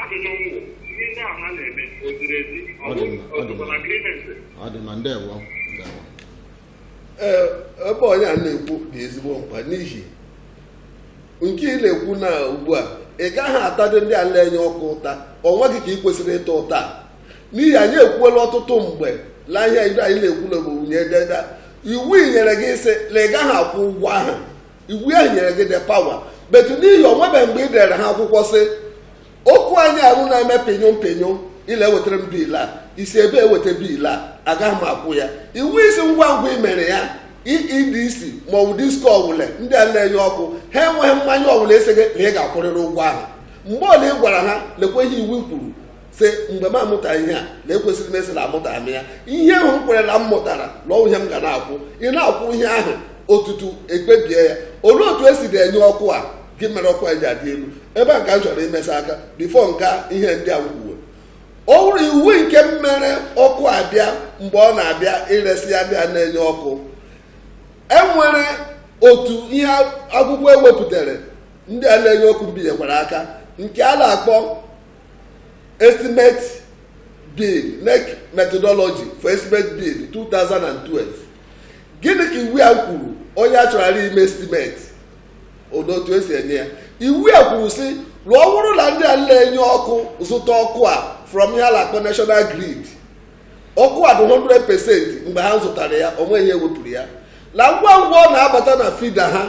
ajụjụ m wụ ihe ndị ahụ ha na-eme o ziri ezi ọ Ọ dị mma, ọ dị bụkwa mma. na agrimenti ọ dị mma ndewo ndewo ee ebe onye a na-ekwu dị ezigbo mkpa n'ihi nke ị na-ekwu na ugbu a ị gaghị atadị ndị a la-enye ọkụ ụta onwe gị ka ị kwesịrị ịta ụta a. n'ihi anyị ekwuola ọtụtụ mgbe la ihe ndị anyị na-ekwu na ọ bụ nyededa iwu i nyere gị sị na ị gaghị akwụ ụgwọ ahụ iwu ahụ nyere gị the power but n'ihi o nwebe mgbe ị dere ha akwụkwọ sị ọkụ anyị ahụ na-eme pinyo pinyo ile ewetara m bill a e si ebee eweta bill a agaghị m akwụ ya iwu sị ngwa ngwa i mere ya EEDC ma ọ bụ disko ọwụla ndị a na-enye ọkụ ha enweghị mmanya ọwụla ịsị gị na ị ga-akwụrịrị ụgwọ ahụ mgbe ọla ị gwara ha lekwa ihe iwu kwuru si mgbe m amụta ihe a na ekwesịrị m ịsị na amụta m ya ihe ahụ m kwere la m mụtara na ọwụ ihe m ga na-akwụ ị na-akwụ ihe ahụ tutu ekpebie ya olee otu esi na-enye ọkụ a gịnị mere ọkụ a ji adị elu ebe a ka m chọrọ imesa aka before nka ihe ndị a kwuwe ọ bụrụ iwu nke mmere ọkụ abịa mgbe ọ na-abịa iresi ya ndị a na-enye ọkụ enwere otu ihe akwụkwọ ewepụtara ndị a na-enye ọkụ mbinyekwara aka nke a na-akpọ estimate bill NEC methodology for estimate bill 2012 gịnị ka iwu a kwuru onye a chọrọla ime estimate ọ dị otu esi enye ya iwu a kwuru sị na ọwụrụ na ndị a na-enye ọkụ zụta ọkụ a from ihe a na-akpọ national grid ọkụ a dị 100 percent mgbe ha zụtara ya o nwe ihe ewepụrụ ya na ngwa ngwa ọ na-abata na feeder ahụ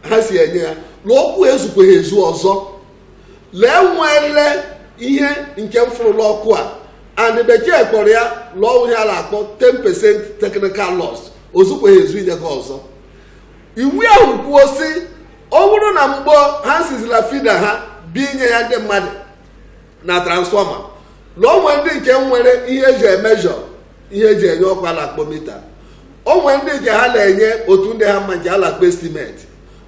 ha si enye ya na ọkụ a ezukwaghị ezu ọzọ la e nweela ihe nke mfụrụ la ọkụ a and bekee kpọrọ ya la ọ wụ ihe a na-akpọ 10% technical loss o zukwaghị ezu inye gị ọzọ iwu ahụ kwuo sị ọ bụrụ na mgbe ha sizi la feeder ahụ bịa inye ya ndị mmadụ na transformer la o nwe ndị nke nwere ihe eji measure ihe eji enye ọkụ a la-akpọ meter o nwe ndị nke ha na-enye otu ndị ha mma nke a la-akpọ estimate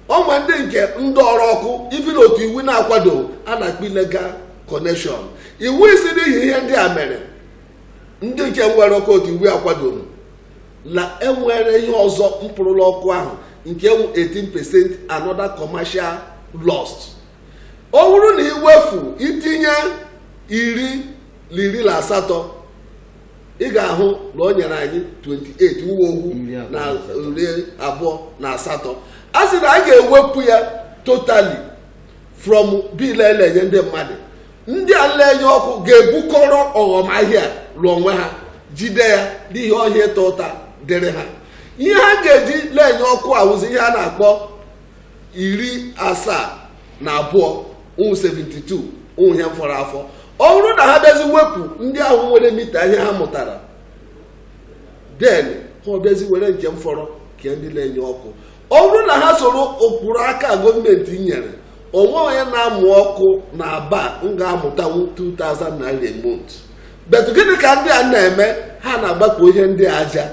o nwe ndị nke ndọọrọ ọkụ even otu iwu na-akwadoghị a na-akpọ illegal connection iwu sị n'ihi ihe ndị a mere ndị nke nwere ọkụ otu iwu akwadoghị na enwere ihe ọzọ mpụrụ la ọkụ ahụ nke wụ 18% another commercial loss ọ bụrụ na iwefu itinye iri na iri na asatọ ị ga-ahụ na o nyere anyị 28 ọ wụ ohu na iri abụọ na asatọ a sị na a ga-ewepụ ya totally from bill e la-enye ndị mmadụ ndị a la-enye ọkụ ga-ebukọrọ ọghọm ahịa l'onwe ha jide ya n'ihi ọ ha ịta ụta dịrị ha ihe ha ga-eji la-enye ọkụ awụzi ihe a na-akpọ iri asaa na abụọ ọ wụ 72 wụ ihe fọrọ afọ ọ bụrụ na ha bịazi wepụ ndị ahụ nwere mita ihe ha mụtara then ha bịazi were nke fọrọ kee ndị na-enye ọkụ ọ bụrụ na ha soro ụkpụrụ aka gọọmenti nyere o nweghị onye na-amụ ọkụ na aba ga-amụtanwu 2000 naira a month but gịnị ka ndị a na-eme ha na-agbakọ ihe ndị aja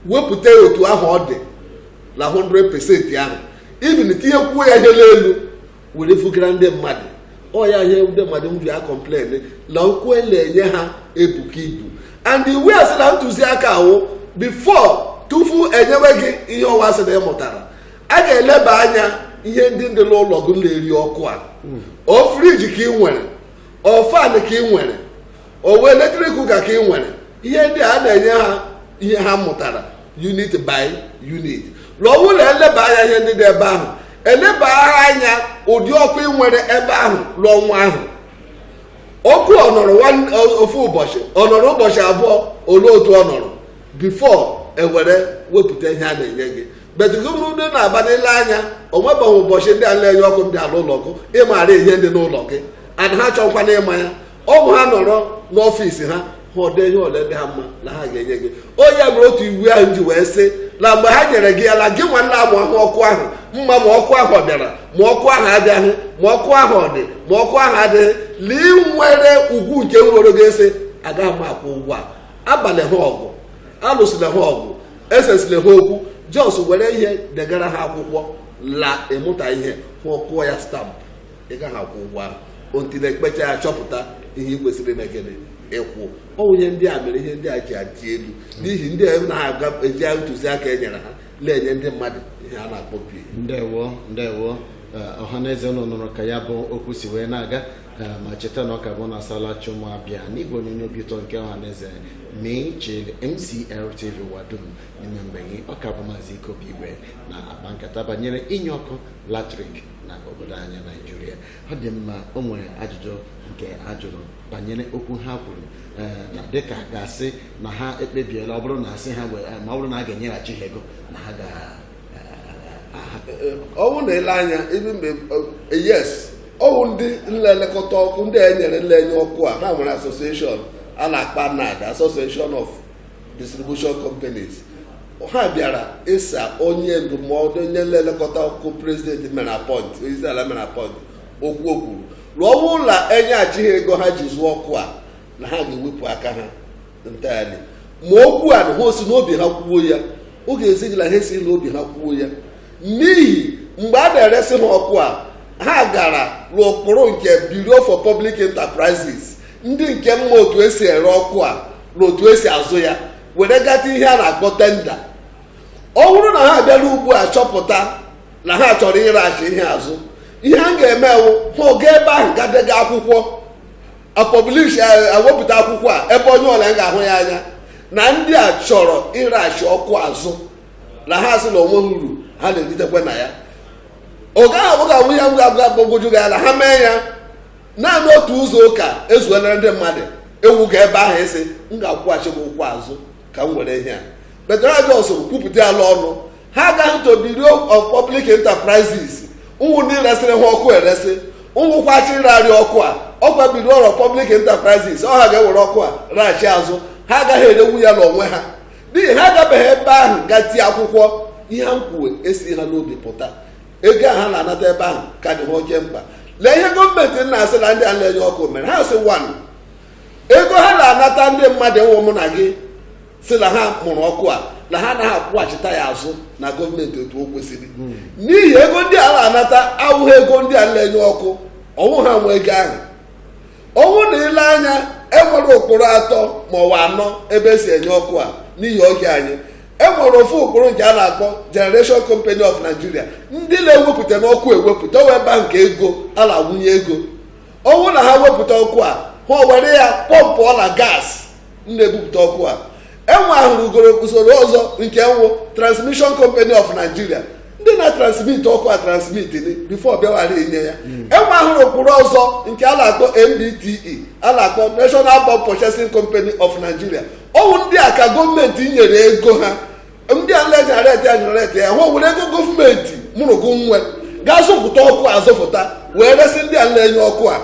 wepụta ya otu ahụ ọ dị na 100% ahụ even tinyekwuo ya ihe n'elu were fugara ndị mmadụ ọ ya ihe ndị mmadụ ji a complain na ụgwọ e na-enye ha ebuka ibu and iwu ya sị na ntụziaka a wụ before tupu enyewe gị ihe ọ wụ a sị na ị mụtara a ga-eleba anya ihe ndị dị n'ụlọ gị na-eri ọkụ a ọ fridge ka ị nwere ọ fan ka ị nwere ọ wụ electric cooker ka ị nwere ihe ndị a na-enye ha ihe ha mụtara unit by unit l'ụlọ eleba anya ihe ndị dị ebe ahụ eleba anya ụdị ọkụ ị nwere ebe ahụ l'ọnwa ahụ ọkụ ọ nọrọ one- o- ofu ụbọchị ọ nọrọ ụbọchị abụọ olee otu ọ nọrọ before ewere wepụta ihe a na-enye gị but otu ọ dị na aba n'ile anya o nwebeghị ụbọchị ndị a na-enye ọkụ bịara ụlọ gị ịmara ihe dị n'ụlọ gị and ha achọghịkwanụ ịma ya ọ bụ ha nọrọ n'ọfịs ha ha ọde ihe ole dị ha mma na ha ga-enye gị ọ ya mere otu iwu ahụ ji wee sị na mgbe ha nyere gị ya na gị nwa na-amụ ahụ ọkụ ahụ ma ma ọkụ ahụ ọ bịara ma ọkụ ahụ abịaghị ma ọkụ ahụ ọ dị ma ọkụ ahụ adịghị la ị nwere ugwu nke nwere ga-asị agaghị m akwụ ụgwọ a abala ha ọgụ alụsịla ha ọgụ esesịla ha okwu just were ihe degara ha akwụkwọ la ịmụta ihe ha ọkụọ ya stamp ị gaghị akwụ ụgwọ ahụ until ekpecha ya chọpụta ihe ị kwesịrị ime gịnị ịkwụ ọ bụ ihe ndị a mere ihe ndị a ji adị elu n'ihi ndị a anaghị eji ntụziaka e nyere ha na-enye ndị mmadụ ihe a na-akpọ bill ndewo ndewo eh, ọha na eze unu nụrụ ka ya bụ okwu si wee na-aga eh, ma cheta na ọ ka bụ na asala chi ụmụ abịa n'igwe onyonyo obi ụtọ nke ọha na eze mee chile mcl tv ụwa dum n'ime mgbe gị ọ ka bụ maazị ike obi igwe na-akpa nkata banyere inye ọkụ latrik na obodo anyị naijiria ọ dị mma o nwere ajụjụ nke a jụrụ banyere okwu ha kwuru ee, na dịka a ga-asị na ha ekpebiela ọ bụrụ na asị ha wee- ma ọ bụrụ na a ga-enyeghachi ha ego na ha ga ọ wụ na e lee anya ebe mgbe eh, yes ọ wụ ndị na-elekọta ọkụ ndị a e nyere na-enye ọkụ a ha nwere association a na-akpọ ANED association of distribution companies ha bịara ịsa onye ndụmọdụ onye na-elekọta ọkụ president mere appoint onyeisi ala mere appoint okwu o kwuru na ọ bụrụ na e nyeghachi ha ego ha ji zụọ ọkụ a na ha ga-ewepụ aka ha entirely ma okwu a na ha o si n'obi ha kwuo ya ọ ga-ezi gị na ha esighị n'obi ha kwuo ya n'ihi mgbe a na-eresị ha ọkụ a ha gara n'ụkpụrụ nke Bureau for Public Enterprises ndị nke ma otu e si ere ọkụ a na otu e si azụ ya were gaa tie ihe a na-akpọ tender ọ bụrụ na ha abịara ugbu a chọpụta na ha chọrọ ịrachi ihe azụ ihe a ga-eme wụ ha ga ebe ahụ gaa dega akwụkwọ a publish e wepụta akwụkwọ a ebe onye ọbụla ga-ahụ ya anya na ndị a chọrọ ịrachi ọkụ azụ na ha asị na o nweghị uru ha na-eritekwa na ya ọ gaghị abụghị abụ ya ngwa ngwa gbagwoju gị ala ha mee ya naanị otu izu ụka ezuelere ndị mmadụ ewu ga ebe ahụ sị m ga-akwụghachi gị ụgwọ azụ ka m were ihe a but ha just kwupụta ya ọnụ ha agaghị to Bureau of Public Enterprises nwụ ndị resịrị ha ọkụ eresị nwụkwa ndị rere ọkụ a ọ kwa Bureau of Public Enterprises ọ ha ga-ewere ọkụ a reghachi azụ ha agaghị erenwu ya n'onwe ha n'ihi ha agabeghị ebe ahụ gaa tie akwụkwọ ihe ha na-ekwu esighị ha n'obi pụta ego ahụ a na-anata ebe ahụ ka dị ha oke mkpa lee ihe gọọmenti na-asị na ndị a na-enye ọkụ mere ha sị one ego ha na-anata ndị mmadụ nwụ mụ na gị sị na ha mụrụ ọkụ a na ha anaghị akwụghachita ya azụ na gọọmenti otu o kwesịrị n'ihi ego ndị a na-anata awụghị ego ndị a na-enye ọkụ ọ wụghị ha nwe ego ahụ ọ wụ na i lee anya e nwere ụkpụrụ atọ ma ọ wụ anọ ebe e si enye ọkụ a n'ihi oge anyị e nwere ofu ụkpụrụ nke a na-akpọ Generation Company of Nigeria ndị na-ewepụta ọkụ ewepụta wee baa nke ego a na-awụnye ego ọ wụ na ha wepụta ọkụ a ha were ya pọmpụọla gas na-ebupụta ọkụ a e nweahụrụ ugoro usoro ọzọ nke nwụ Transmission Company of Nigeria ndị na-transmit ọkụ a transmit before bịawara inye ya hmm. e nweahụrụ ụkpụrụ ọzọ nke a na-akpọ NBTE a na-akpọ National Bulk Purchasing Company of Nigeria ọ wụ ndị a ka gọọmenti nyere ego ha ndị a nleji areti a nyere ya hụ were ego gọọmenti mụrụgụ nwe gaa zụpụta ọkụ azụpụta wee resi ndị a na-enye ọkụ a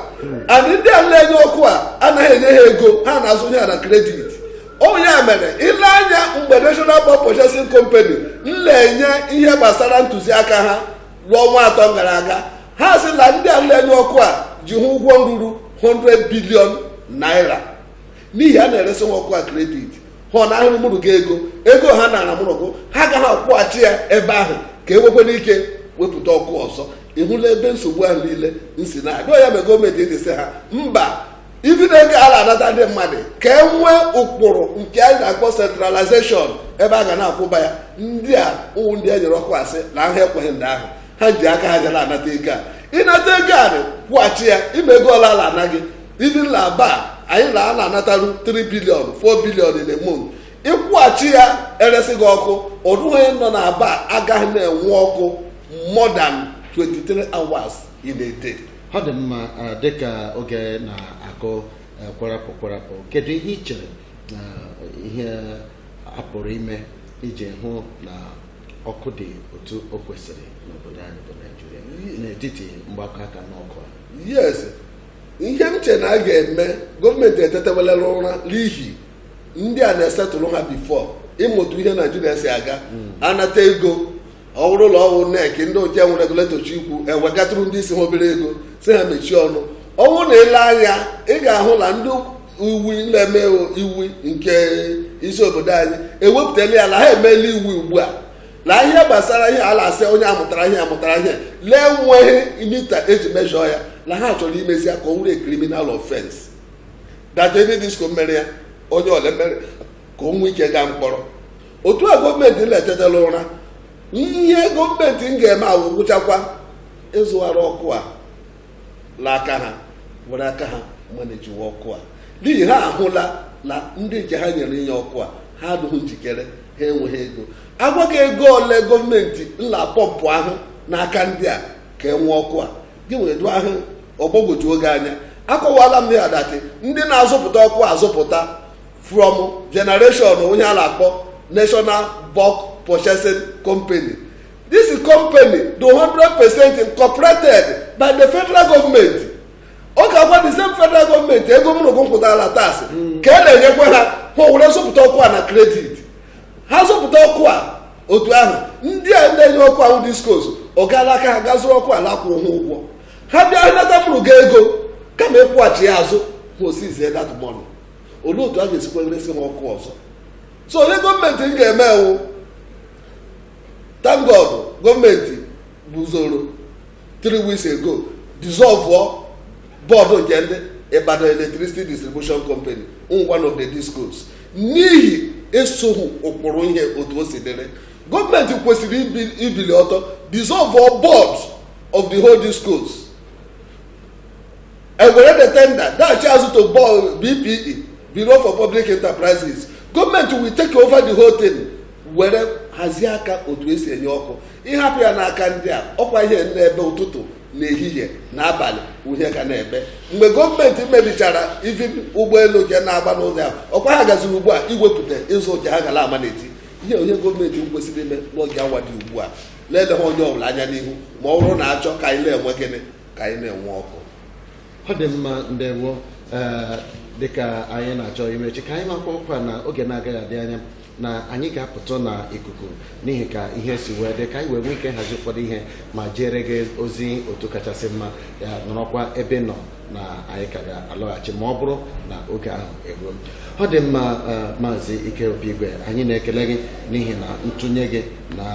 adị ndị a na-enye ọkụ a anaghị enye ha ego ha na-azụ ya na kredit ọ ya mere i lee anya mgbe national bulk purchasing company na-enye ihe gbasara ntụziaka ha n'ọnwa atọ gara aga ha sị na ndị a na-enye ọkụ a ji hụ ụgwọ ruru 100 bilion naira n'ihi a na-eresi ha ọkụ a kredit ha ọ na-ahụrụ mụrụ gị ego ego ha nara mụrụ gụ ha agaghị akwụghachi ya ebe ahụ ka e nwekwee ike wepụta ọkụ ọzọ ị hụla ebe nsogbu ahụ niile nsi na-abịa ya mere gọọmenti eji sị ha mba even ego a la-anata ndị mmadụ ka e nwee ụkpụrụ nke anyị na-akpọ centralization ebe a ga na-akwụba ya ndị a wụ ndị e nyere ọkụ asị na ha ekweghị ndị ahụ ha ji aka ha ga na-anata ego a ị nata ego a kwụghachi ya ime ego ọla ala anaghị even na aba anyị na a na-anataru 3 bilion 4 bilion in a month ị kwụghachi ya eresi gị ọkụ ọ dụghị onye nọ na aba agaghị na-enwe ọkụ more than 23 hours in a day ọ dị mma eh, dịka oge na-agụ eh, kwarapụ kwarapụ kedu ihe i chere na ihe a pụrụ ime iji hụ na ọkụ dị otu o kwesịrị n'obodo anyị bụ naijiria n'etiti mgbakọ aka n'ọkụ a yes ihe m che na a ga-eme gọọmenti etetewela ụra n'ihi ndị a na-esettle ha before ịmụtụ ihe naijiria si aga anata ego ọ wụrụ ụlọ ọrụ nerc ndị oche nwere regulator chọọ ikwu ewegatụrụ ndị isi ha obere ego sị ha mechie ọnụ ọ wụ na i lee anya ị ga-ahụ na ndị iwu na-eme iwu nke isi obodo anyị ewepụtala ya na ha emeela iwu ugbu a na ihe gbasara ihe a la-asị onye amụtara ihe amụtara ihe la enweghị mita e ji mejọọ ya na ha chọrọ imezi ya ka ọ wụrụ criminal offense that any disko mere ya onye ole mere ka o nwee ike gaa mkpọrọ otu a gọọmenti etetela ụra ihe gọọmenti ga-eme awụ gwụchakwa ịzụghara ọkụ a la aka ha were aka ha manejiwe ọkụ a n'ihi ha ahụla na ndị nke ha nyere inye ọkụ a ha adịghị njikere ha enweghị ego a gwa gị ego ole gọọmenti nla pọmpụ ahụ n'aka ndị a ka e nwee ọkụ a gị wee dụ ahụ ọ gbagwoju gị anya akọwala m ya that ndị na-azụpụta ọkụ azụpụta from generation ihe a na-akpọ national bulk purchasing company This company dị 100% incorporated by the federal government. Ọ ga-agwa the same federal government ego mụ la gị kwụtara la taasị ka e na-enyekwa ha ewere zụpụta ọkụ a na kredit ha zụpụta ọkụ a otu ahụ ndị a na-enye ọkụ wụ diskos ọ gaa la aka ha ga-azụrụ ọkụ a la-akwụghị ha ụgwọ ha bịa ha nata mụ la gị ego kama ịkwụghachi ya azụ ma osizie that money olee otu a ga-esikwa resị ha ọkụ ọzọ so ihe gọọmenti ga-eme wụ thank god gọọmenti guzoro three weeks ago dissolve bọọdụ nke ndị Ibadan Electricity Distribution Company one of the discos n'ihi esoghị ụkpụrụ ihe otu o si dịrị gọọmenti kwesịrị ibili ọtọ dissolve board of the whole discos and were the tender dachi azụ to BPE Bureau for Public Enterprises gọọmenti will take over the whole thing were hazie aka otu esi enye ọkụ ịhapụ ya n'aka ndị a ọkwa ihe na-ebe ụtụtụ na ehihie na abalị wụ ihe a ga na-ebe mgbe gọọmenti mebichara ivin ụgbọelu nke na-agba n'ụzọ ya ọkwa ha gaziri ugbu a iwepụta ịzụ ụja ha gara ama n'eti ihe ọ wụ ihe gọọmenti kwesịrị ime n'oge awa dị ugbu a na-eleghị onye ọbụla anya n'ihu ma ọ bụrụ na achọ ka anyị na-enwe gịnị ka anyị na-enwe ọkụ ọ dị mma ndewo ee dịka anyị na-achọ imechi ka anyị makwaa ọkwa na oge na-agaghị adị anya na anyị ga-apụtụ na ikuku n'ihi ka ihe si wee dị ka anyị wee nwee ike hazi ụfọdụ ihe ma jere gị ozi otu kachasị mma ya nọrọkwa ebe ị nọ na anyị ka ga-alọghachi ma ọ bụrụ na oge ahụ eruo ọ dị mma eh, maazị ike obi igwe anyị na-ekele gị n'ihi na ntụnye gị na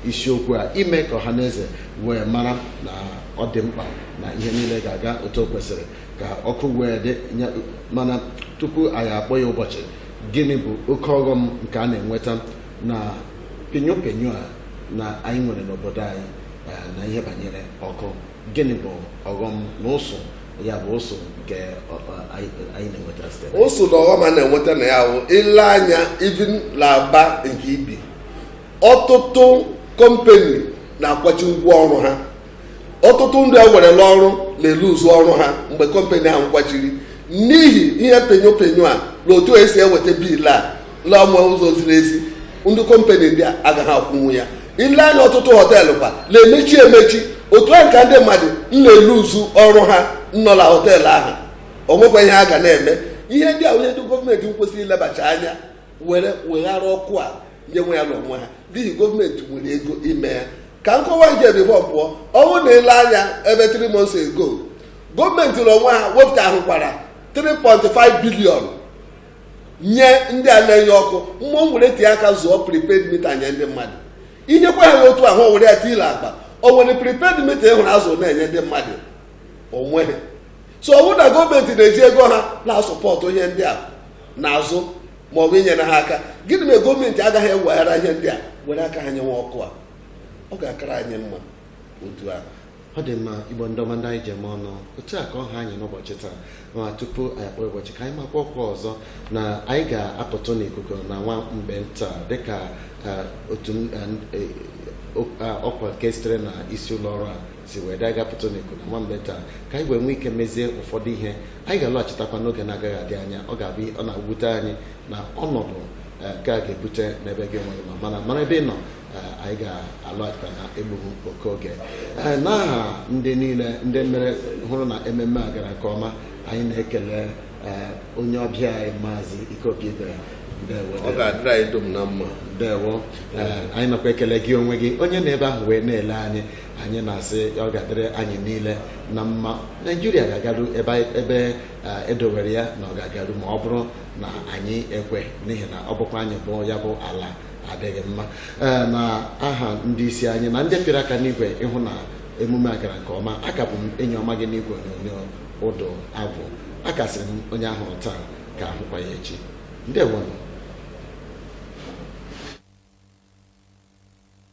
isiokwu a ime ka ọha na eze wee mara na ọ dị mkpa na ihe niile ga-aga otu o kwesịrị ka ọkụ wee dị mana tupu anyị akpọ ya ụbọchị gịnị bụ oke ọghọm nke a na-enweta na penyo penyo a na anyị nwere n'obodo anyị eh, na ihe banyere ọkụ gịnị bụ ọghọm na ụsụ ya bụ ụsụ nke ọ- ọ- anyị anyị na-enweta site na- ụsụ na ọghọm a na-enweta na ya bụ i lee anya ivin la Aba nke i bi ọtụtụ kọmpani na-akwachi ngwa ọrụ ha ọtụtụ ndị e were la ọrụ na-eluzu ọrụ ha mgbe kọmpani ahụ kwachiri n'ihi ihe penyo penyo a na otu esi eweta biil a la ọ wụghị ụzọ ziri ezi ndị kọmpani ndị a agaghị akwụnwu ya i lee anya ọtụtụ họteelụ kwa na-emechi emechi otu ahụ ka ndị mmadụ na-eluzu ọrụ ha nọ na họteelụ ahụ o nwekwa ihe a ga na-eme ihe ndị a wụ ihe ndị gọọmenti kwesịrị ilebacha anya were weghara ọkụ a nyewe ya na onwe ha n'ihi gọọmenti nwere ego ime ya ka nkọwa nke bifọ pụọ ọ bụ na ile anya ebe 3 months ago gọọmenti na onwe ha wepụtahụkwara 3.5 billion nye ndị a na-enye ọkụ ma were tinye aka zụọ prepaid mita nye ndị mmadụ inyekwa ha otu ahụ o were ya tinye n'akpa o nwere prepaid mita ị hụrụ a zụ na-enye ndị mmadụ o nweghị so ọ bụrụ na gọọmenti na-eji ego ha na-asupport ihe ndị a n'azụ ma ọ bụ inyere ha aka gịnị mere gọọmenti agaghị eweghara ihe ndị a were aka ha nyewe ọkụ a ọ ga-akara anyị mma otu ahụ ọ dị mma igbo ndị ọma ndị anyị ji eme ọnụ otu a ka ọ ha anyị n'ụbọchị taa ma tupu anyị akpọọ ya ụbọchị ka anyị maakwa ọkwa ọzọ na anyị ga-apụtụ n'ikuku na nwa mgbe nta dịka eh, otu m- eh, eh, ọkwa nke sitere na isi ụlọ ọrụ a si wee dị a ga-apụtụ n'ikuku na nwa mgbe nta ka anyị wee nwee ike mezie ụfọdụ ihe anyị ga-alọghachitakwa n'oge na-agaghị adị anya ọ ga-abụ ọ na-ewute anyị na ọnọdụ eh, nke a ga-ebute n'ebe gị nwere ma mana nọrọ ebe ị nọ eh, anyị ga-alọghachita na egbughị oke oge Eh, n'aha ndị niile ndị mere hụrụ na ememme a gara nke ọma anyị na-ekele eh, onye ọbịa anyị maazị ikeobi ibere ndewo ọ ga-adịrị anyị dum na mma ndewo Eh, anyị nakwa ekele gị onwe gị onye nọ ebe ahụ wee na-ele anyị anyị na-asị na ọ ga-adịrị anyị niile na mma naijiria ga-agaru ebe ebe eh, e dowere ya na ọ ga-agaru ma ọ bụrụ na anyị ekwe n'ihi na ọ bụkwa anyị bụ ya bụ ala adịghị mma Eh, na aha ndị isi anyị na ndị pịrị aka n'igwe ịhụ na emume a gara nke ọma a ka bụ m enyi ọma gị n'igwe onyonyo ụdụ agwụ a ka sịrị m onye a hụrụ taa ka a hụkwa ya echi ndewonụ